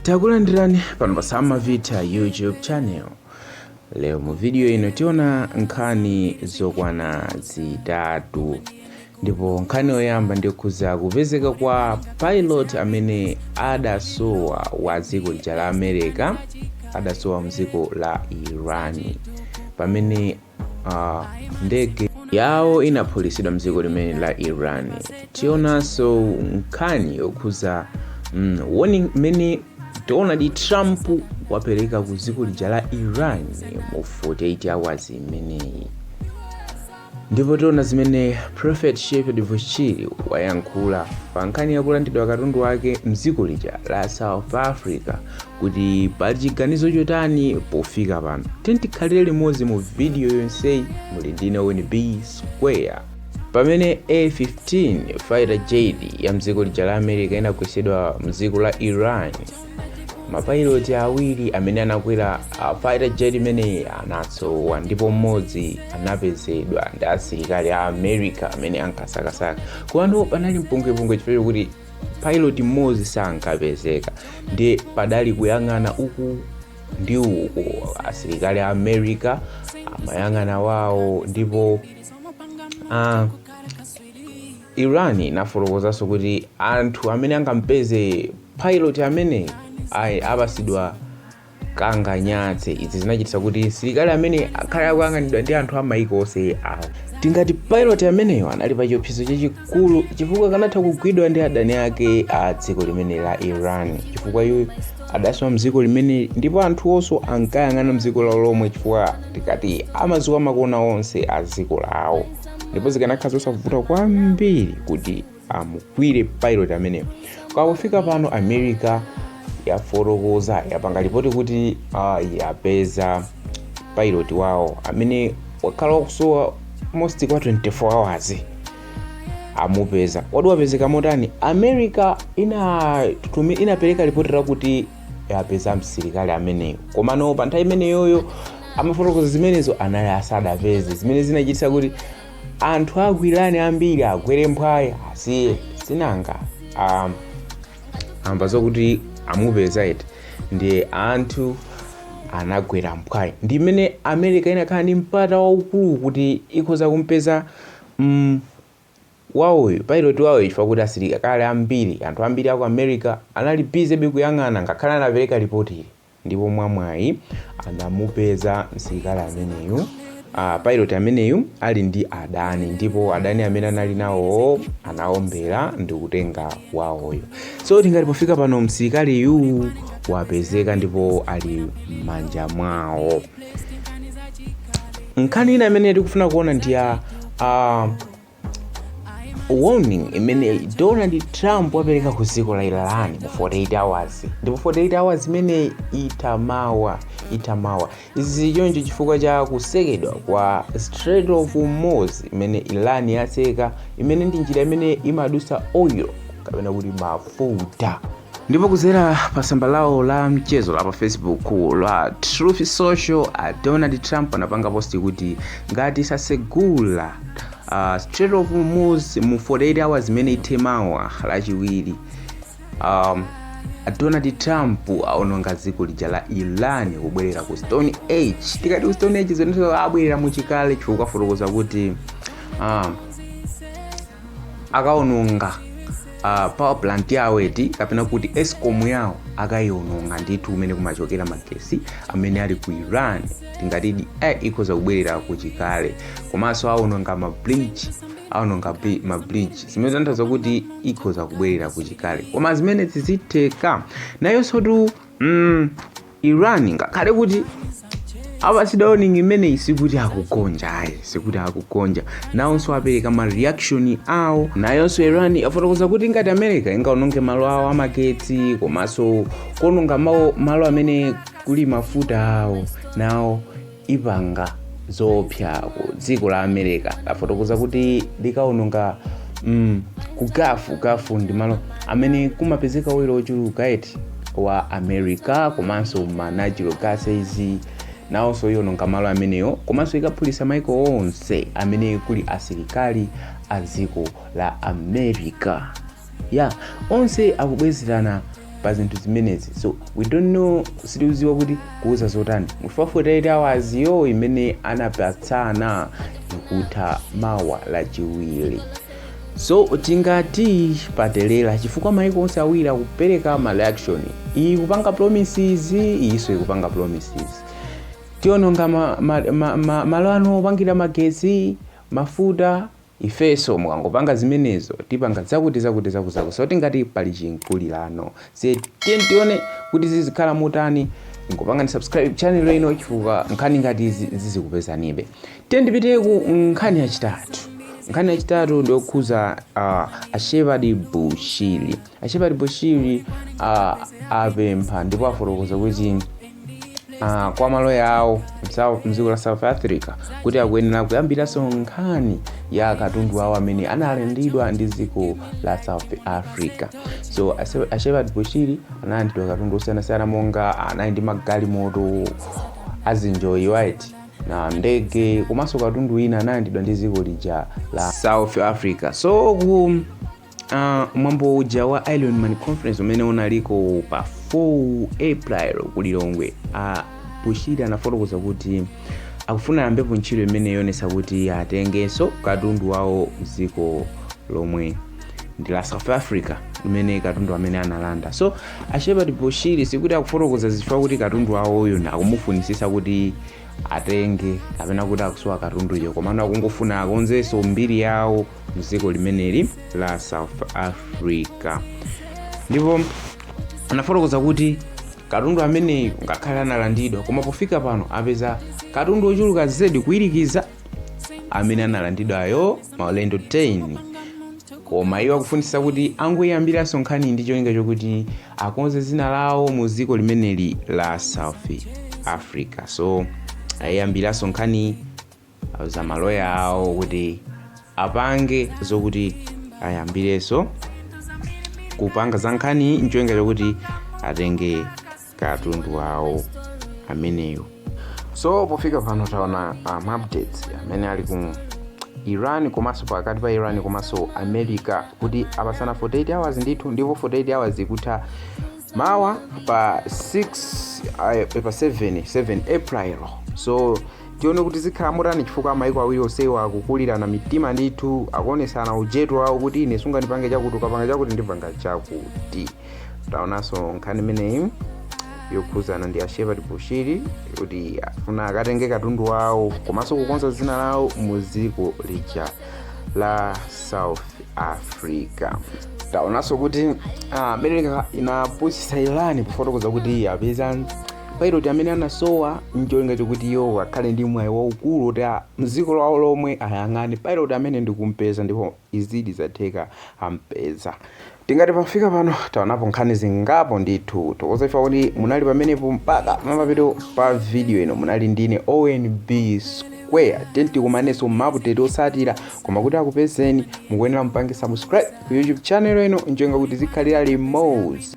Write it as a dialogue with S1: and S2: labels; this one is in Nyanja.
S1: takulandirani pano pa samavitha youtube channel lero mu video ino tiona nkhani zokwana zitatu ndipo nkhani yoyamba ndikhuza kupezeka kwa pilot amene adasowa wa dziko lija la america adasowa mdziko la iran pamene uh, ndege yawo inaphulitsidwa mdziko limene la iran tionanso nkhani yokhuza mm, warning imene donald trump wapereka ku dziko lija la iran mu 48 hours imeneyi ndipo tiona zimene prophet shepherd bushiri wayankhula pa nkhani yakulandidwa katundu wake mdziko lija la south africa kuti pali chiganizo chotani pofika pano tiyeni tikhalire limodzi mu vidiyo yonseyi muli ndine weni b square pamene f15 fighter jet ya mdziko lija la america inagwesedwa mdziko la iran mapayiloti awiri amene anakwera a fighter jet imeneyi anasowa ndipo mmodzi anapezedwa ndi asilikali a america amene ankasakasaka komano panali mpungwepungwe chifukwa kuti pilot mmodzi sankapezeka ndiye panali kuyang'ana uku ndi uku asilikali a america amayang'ana wawo ndipo ah, iran inafotokozanso kuti anthu amene angampeze pilot ameneyi apasidwa kanganyatse izi zinachititsa kuti msilikali ameneyi akhale akuyang'anidwa ndi anthu amaiko onse awiri tingati pilot ameneyo anali pa chiopsezo chachikulu chifukwa kanatha kugwidwa ndi adani ake a dziko limene la iran chifukwa iye adasowa mdziko limene ndipo anthu onse ankayang'ana mdziko lawo lomwe chifukwa tingati amadziwa makona onse a dziko lawo ndipo zikanakhala zosavuta kwambiri kuti amugwire pilot ameneyo koma pofika pano america yafotokoza yapanga lipoti kuti uh, yapeza pilot wawo amene wakhala akusowa most kwa 24 hours amupeza kodi wapezeka motani america inatumi inapereka lipoti lakuti yapeza msilikali ameneyo komano pa nthawi imeneyoyo amafotokoza zimenezo anali asadapeze zimene zinachitisa kuti anthu aku iran ambiri agwere mphwayi asiye sinanga um, amva zokuti amupeza eti ndiye anthu anagwera mphwayi ndi imene america inakhala ndi mpata waukulu kuti ikhoza kumpeza mm, wawoyu pilot wawoyu chifukwa kuti asilikali ambiri anthu ambiri aku america anali busy be kuyang'ana ngakhale anapereka lipoti ili ndipo mwa mwayi anamupeza msilikali ameneyu uh, pilot ameneyu ali ndi adani ndipo adani amene anali nawowo anaombera ndi kutenga wawoyo so tingati pofika pano msilikaliyu wapezeka ndipo ali m'manja mwawo nkhani ina imene tikufuna kuona ndi ya uh, warning imene donald trump wapereka ku dziko la iran mu 48 hours ndipo 48 hours imeneyi itha mawa itha mawa izi zili choncho chifukwa cha kusekedwa kwa strait of hormuz imene iran yaseka imene ndi njira imene imadutsa oil kapena kuti mafuta ndipo kudzera pa tsamba lawo la mchezo la pa facebook la truth social a donald trump anapanga posti kuti ngati sasegula uh, strait of hormuz mu 48 hours imene ithe mawa lachiwiri um, a donald trump aononga dziko lija la iran kubwerera ku stone age tikati ku stone age zonse abwerera muchikale chifukwa afotokoza kuti um, akaononga uh, power plant yawo eti kapena kuti escom yawo akayiononga ndithu kumene kumachokera magesi amene ali ku iran tingatidi eh, ikhoza kubwerera kuchikale komanso aononga mabridge aononga bri- mabridge zimene zikutanthauza kuti ikhoza kubwerera kuchikale koma zimene zizitheka nayonsotu mm, iran ngakhale kuti apasidwa warning imeneyi sikuti akugonja ayi sikuti akugonja nawonso apereka ma reaction awo nayonso iran yafotokoza kuti ngati america ingaononge malo awo amagetsi komanso kuononga mawo- malo amene kuli mafuta awo nawo ipanga zoopsa ku dziko la america afotokoza kuti likaononga mm, ku gafu gafu ndi malo amene kumapezeka oil ochuluka eti wa america komanso ma natural gases nawonso iononga malo amenewo komanso ikaphulitsa maiko onse amene kuli asilikali a dziko la america ya onse akubwezerana pa zinthu zimenezi so we don't know sitiuziwa kuti kubwera zotani mu 48 hours yo imene anapatsana ikutha mawa lachiwiri so tingati patelera chifukwa maiko onse awiri akupereka ma reaction iyi ikupanga promises iyiso ikupanga promises tiononga malo ma, ma, ma, ma, anu opangira magetsi mafuta Ifeso mukangopanga zimenezo tipanga zakuti zakuti zaku zaku so tingati pali chinkulirano so tiyeni tione kuti zizikhala motani ingopangani subscribe channel ino chifukwa nkhani ngati izi zizikupezanibe tiyeni tipite ku nkhani yachitatu nkhani yachitatu ndiyokhuza uh, a shepherd bushiri A Shepherd Bushiri a apempha ndipo afotokoza kuti kwa maloya awo msawo- mdziko la South Africa kuti akuyenera kuyambiranso nkhani ya katundu wawo amene analandidwa ndi dziko la South Africa. So a Se- a Shepherd Bushiri analandidwa katundu osiyanasiyana monga anali ndi magalimoto azinji private jet ndege komanso katundu wina analandidwa ndi dziko lija la South Africa. So ku Uh, mwambo uja wa Iron Man conference umene unaliko pa 4 April ku Lilongwe uh, Bushiri anafotokoza kuti akufuna ayambepo ntchito imeneyi yoonesa kuti atengenso katundu wawo mdziko lomweli la South Africa mmene katundu amene analanda so a Shepherd Bushiri sikuti akufotokoza izi chifukwa chokuti katundu wawoyo akumufunisisa kuti atenge kapena kuti akusowa katunduyo komano akungofuna akonzenso mbiri yawo mdziko limeneli la south africa ndipo anafotokoza kuti katundu ameneyu ngakhale analandidwa koma pofika pano apeza katundu ochuluka zedi kuwirikiza amene analandidwayo maulendo 10 koma iwo akufunisa kuti angoyiyambiranso nkhaniyi ndi cholinga chokuti akonze zina lawo mu dziko limeneli la south africa so ayiyambiranso nkhani auza maloya awo kuti apange zokuti ayambirenso kupanga za nkhaniyi ncholinga chokuti atenge katundu wawo ameneyo so pofika pano taona uh, maupdates amene ali ku iran komanso pakati pa iran komanso america kuti apasana 48 hours ndithu ndipo 48 hours ikutha mawa pa 6 uh, pa 7 7 april so tione kuti zikhala motani chifukwa maiko awiri onsewa akukulirana mitima ndithu akuonesana ujetu wawo kuti ine sungandipange chakuti ukapanga chakuti ndipanga chakuti taonanso nkhani imeneyi yokhuzana ndi a Shepherd Bushiri kuti afuna akatenge katundu wawo komanso kukonza dzina lawo mu dziko lija la south africa taonanso kuti america inapusisa iran pofotokoza kuti apeza pilot amene anasowa ncholinga chokuti iwo akhale ndi mwayi waukulu kuti a- mdziko lawo lomwe ayang'ane pilot ameneyu ndikumpeza ndipo izidi zatheka ampeza tingati pofika pano taonapo nkhani zingapo ndithu tithokoze chifukwa chokuti munali pamenepo mpaka pamapeto pa video ino munali ndine onb square 10 tikumanenso mu update yosatira koma kuti akupezeni mukuyenera mupange subscribe ku youtube channel ino ncholinga choti tizikhalira limodzi